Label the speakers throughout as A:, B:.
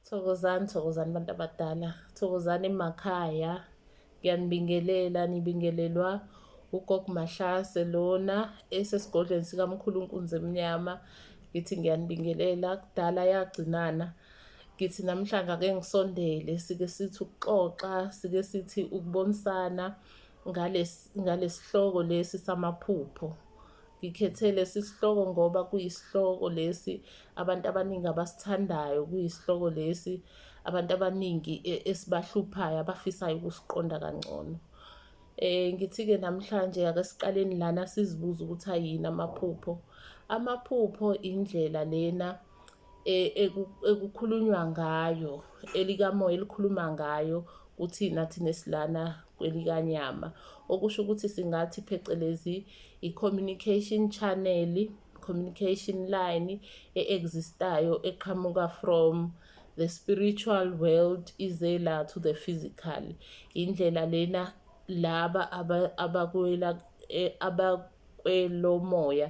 A: Thokozani, thokozani bantu abadala, thokozani emakhaya. Ngiyanibingelela, nibingelelwa ugogo Mahlase lona esesigodlweni sikamkhulu unkunzi emnyama. Ngithi ngiyanibingelela, kudala yagcinana. Ngithi namhlanje ake ngisondele, sike sithi ukuxoxa, sike sithi ukubonisana, ngalesihloko lesi samaphupho ngikhethe lesi sihloko ngoba kuyisihloko lesi abantu abaningi abasithandayo kuyisihloko lesi abantu abaningi e, esibahluphayo abafisayo ukusiqonda kangcono Eh ngithi-ke namhlanje ake siqaleni lana sizibuze ukuthi ayini amaphupho. Amaphupho indlela lena e, ekukhulunywa ngayo elikamoya elikhuluma ngayo kuthina thina esilana kwelikanyama okusho ukuthi singathi phecelezi i-communication channel communication line e-existayo eqhamuka from the spiritual world ize la to the physical indlela lena laba abakwela e, kwelomoya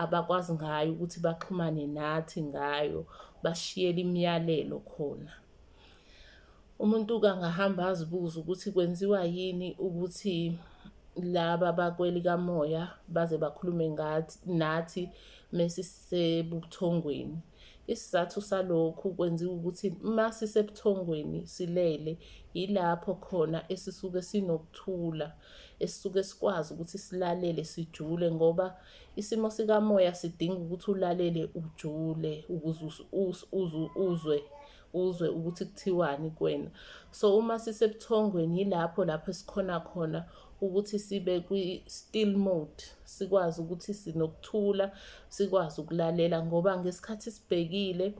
A: abakwazi ngayo ukuthi baxhumane nathi ngayo bashiyele imiyalelo khona umuntu kangahamba azibuze ukuthi kwenziwa yini ukuthi laba bakwelikamoya baze bakhulume ngathi nathi mesisebuthongweni Isizathu salokhu kwenziwa ukuthi uma sisebuthongweni silele yilapho khona esisuke sinokuthula, esisuke sikwazi ukuthi silalele sijule ngoba isimo sikamoya sidinga ukuthi ulalele ujule ukuze uzwe uzwe ukuthi kuthiwani kuwena so uma sisebuthongweni yilapho lapho esikhona khona ukuthi sibe kwi-still mode sikwazi ukuthi sinokuthula sikwazi ukulalela ngoba ngesikhathi sibhekile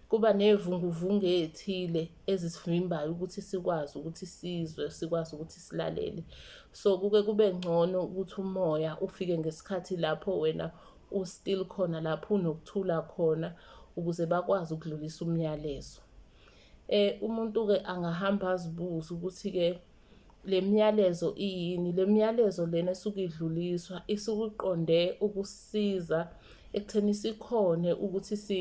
A: kuba nevunguvungu ezithile ezisivimbayo ukuthi sikwazi ukuthi sizwe sikwazi ukuthi silalele so kuke kube ngcono ukuthi umoya ufike ngesikhathi lapho wena ustill khona lapho unokuthula khona ukuze bakwazi ukudlulisa umyalezo eh umuntu ke angahamba azibuza ukuthi ke lemiyalezo iyini lemiyalezo lena esuke idluliswa isukuqonde ukusiza ekutheni sikhone ukuthi si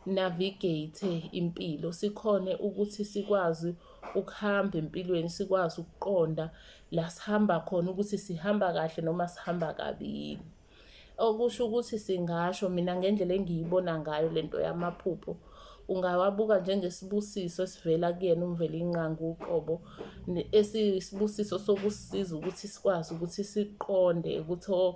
A: navigate impilo sikhone ukuthi sikwazi ukuhamba empilweni sikwazi ukuqonda la sihamba khona ukuthi sihamba kahle noma sihamba kabi yini okusho ukuthi singasho mina ngendlela engiyibona ngayo lento yamaphupho ungawabuka njengesibusiso esivela kuyena umvela inqangu uqobo esisibusiso sokusiza ukuthi sikwazi ukuthi siqonde ukuthi o oh,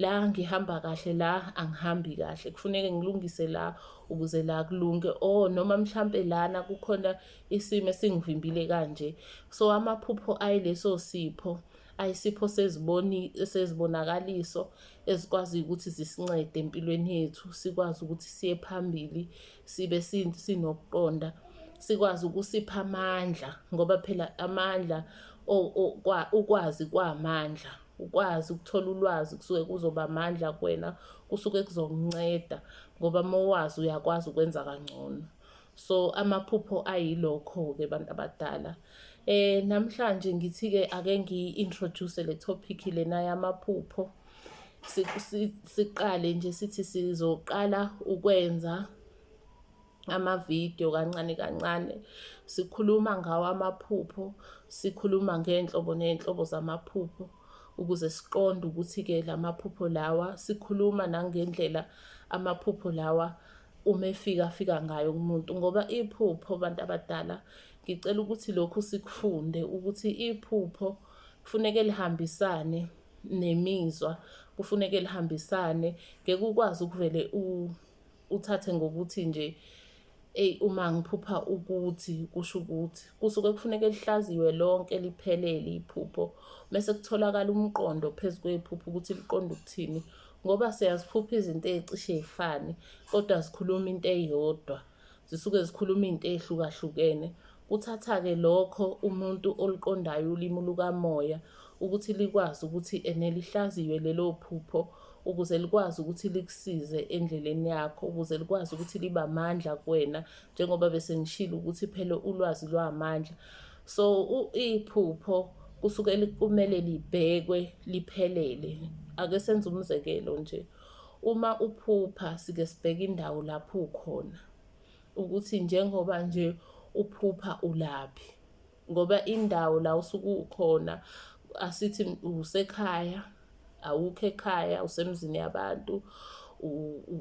A: la ngihamba kahle la angihambi kahle kufuneke ngilungise la ukuze la kulunge o oh, noma mhlampe lana kukhona isimo esingivimbile kanje so amaphupho ayileso sipho ayisipho seziboni sezibonakaliso ezikwazi ukuthi zisincede empilweni yethu sikwazi ukuthi siye phambili sibe sinokuqonda sikwazi ukusipha amandla ngoba phela amandla ukwazi kwamandla ukwazi ukuthola ulwazi kusuke kuzoba amandla kuwena kusuke kuzokunceda ngoba uma wazi uyakwazi ukwenza kangcono So amaphupho ayilokho-ke abantu abadala. Eh namhlanje ngithi-ke ake ngiyi-introduce le topic lena yamaphupho. Siqale nje sithi sizoqala ukwenza amavidiyo kancane kancane sikhuluma ngawo amaphupho sikhuluma ngey'nhlobo ney'nhlobo zamaphupho ukuze siqonde ukuthi-ke la maphupho lawa sikhuluma nangendlela amaphupho lawa uma efika afika ngayo kumuntu ngoba iphupho bantu abadala ngicela ukuthi lokhu sikufunde ukuthi iphupho kufuneke lihambisane nemizwa kufuneke lihambisane ngeke ukwazi ukuvele uthathe ngokuthi nje eyi uma ngiphupha ukuthi kusho ukuthi kusuke kufuneka lihlaziwe lonke liphelele iphupho mese kutholakala umqondo phezu kwephupho ukuthi liqonda ukuthini ngoba siyaziphupha izinto ezicishe zifane kodwa zikhuluma into eyodwa zisuke zikhuluma izinto ezihlukahlukene kuthatha-ke lokho umuntu oluqondayo ulimi lukamoya ukuthi likwazi ukuthi ene lihlaziywe lelo phupho ukuze likwazi ukuthi likusize endleleni yakho ukuze likwazi ukuthi libe amandla kuwena njengoba bese ngishilo ukuthi phela ulwazi lwamandla so iphupho kusuke kumele libhekwe liphelele ake senze umzekelo nje uma uphupha sike sibheke indawo lapho ukhona ukuthi njengoba nje uphupha ulaphi ngoba indawo la usuke ukhona asithi usekhaya awukho ekhaya usemzini yabantu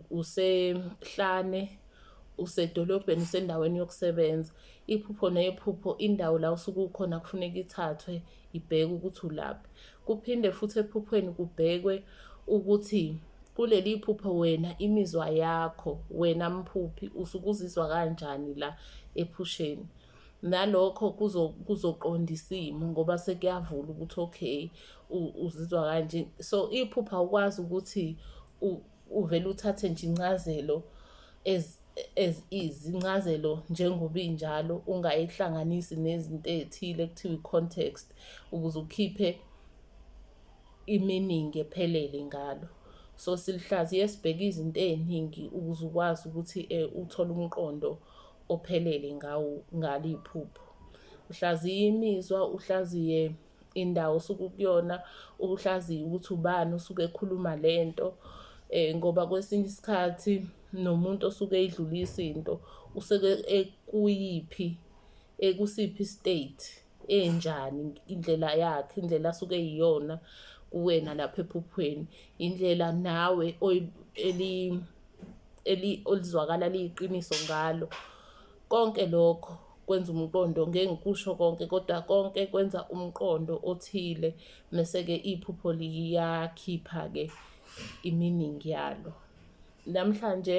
A: usehlane usedolobheni usendaweni yokusebenza iphupho nephupho indawo la usuke ukhona kufuneka ithathwe ibheke ukuthi ulaphi kuphinde futhi ephuphweni kubhekwe ukuthi kuleli phupho wena imizwa yakho wena mphuphi usuke uzizwa kanjani la ephusheni nalokho kuzoqonda isimo ngoba sekuyavula ukuthi okay uzizwa kanje so iphupha awukwazi ukuthi uvele uthathe nje incazelo as as is incazelo njengoba injalo ungayihlanganisi nezinto ezithile kuthiwa i-context ukuze ukhiphe i-meaning ephelele ngalo so silihlaziye sibheke izinto eziningi ukuze ukwazi ukuthi um uthole umqondo ophelele ngawo ngalo iphupho uhlaziye imizwa uhlaziye indawo osuke ukuyona uhlaziye ukuthi ubani usuke ekhuluma lento eh ngoba kwesinye isikhathi nomuntu osuke edlulisa into useke ekuyiphi ekusiphi state enjani indlela yakhe indlela asuke iyona kuwena lapha ephuphweni indlela nawe eli eli olizwakala liyiqiniso ngalo konke lokho kwenza umqondo ngeke ngikusho konke kodwa konke kwenza umqondo othile mese-ke iphupho liyakhipha-ke iminingi yalo namhlanje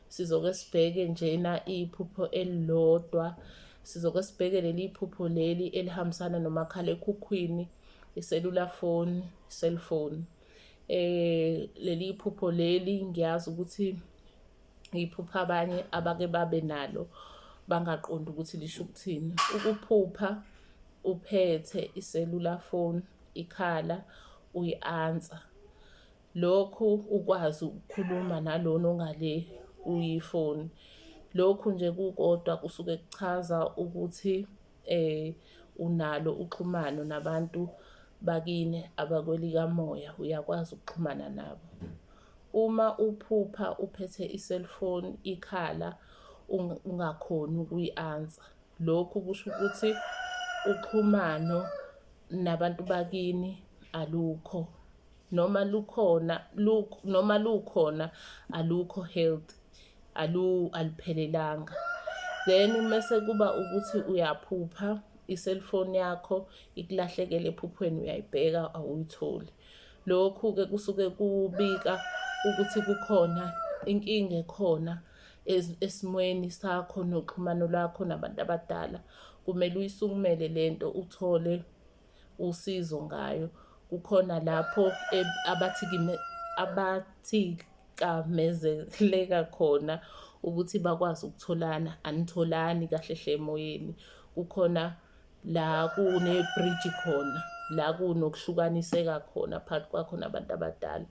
A: Sizoke sibheke njena iphupho elilodwa. Sizoke sibheke leli phupho leli elihambisana nomakhalekhukhwini, iselula phone, cellphone. Eh leli phupho leli ngiyazi ukuthi iphupha abanye abake babe nalo bangaqondi ukuthi lisho ukuthini. Ukuphupha uphethe iselula phone, ikhala uyi-answer Lokhu ukwazi ukukhuluma nalona ongale kuyifoni. Lokhu nje kukodwa kusuke kuchaza ukuthi um unalo uxhumano nabantu bakini abakwelikamoya, uyakwazi ukuxhumana nabo. Uma uphupha uphethe i-cellphone ikhala ungakhoni ukuyi-ansa, lokhu kusho ukuthi uxhumano nabantu bakini alukho. noma lukhona luk noma lukhona alukho healthy alu aliphelelanga then mase kuba ukuthi uyaphupha iselfoni yakho ikulahlekele ephuphweni uyayibheka awuyitholi lokhu ke kusuke kubika ukuthi kukhona inkinga ekhona esimweni sakho noxhumano lwakho nabantu abadala kumele uyisukumele lento uthole usizo ngayo. Kukhona lapho abathikime abathikamezeleka khona ukuthi bakwazi ukutholana, anitholani kahle hle emoyeni. Kukhona la kunebhriji khona, la kunokuhlukaniseka khona phakathi kwakho nabantu abadala.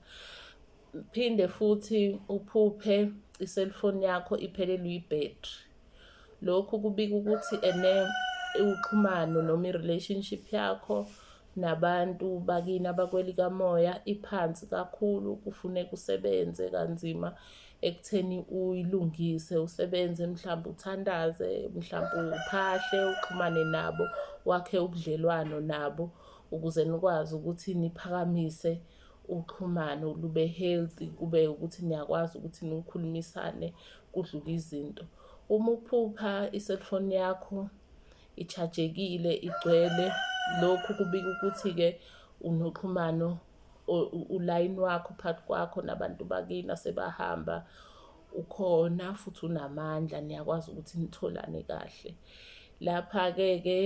A: Phinde futhi uphuphe iselfoni yakho iphelelwe ibhethri. Lokhu kubika ukuthi ene uxhumano noma i-relationship yakho nabantu bakini abakwelikamoya iphansi kakhulu kufuneka usebenze kanzima ekutheni uyilungise usebenze mhlawumbe uthandaze mhlawumbe uphahle uxhumane nabo wakhe ubudlelwano nabo ukuze nikwazi ukuthi niphakamise uxhumano lube healthy kube ukuthi niyakwazi ukuthi nikhulumisane kudluke izinto. Uma uphupha i-cellphone yakho i-charge-ekile, igcwele, lokhu kubika ukuthi-ke unoxhumano ulayini wakho phakathi kwakho nabantu bakini asebahamba, ukhona futhi unamandla niyakwazi ukuthi nitholane kahle. Lapha-ke ke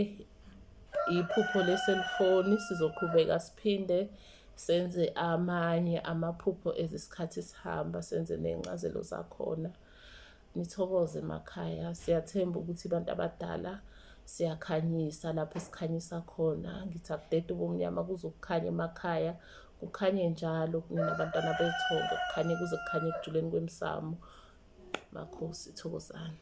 A: iphupho le-cellphone, sizoqhubeka siphinde. senze amanye amaphupho ezisikhathi sihamba senze ney'ncazelo zakhona nithokoze emakhaya siyathemba ukuthi abantu abadala siyakhanyisa lapho sikhanyisa khona ngithi akudede ubumnyama kuzokukhanya emakhaya kukhanye njalo kunina abantwana bethongo kukhanye kuze kukhanye ekujuleni kwemsamo makhosi thokozani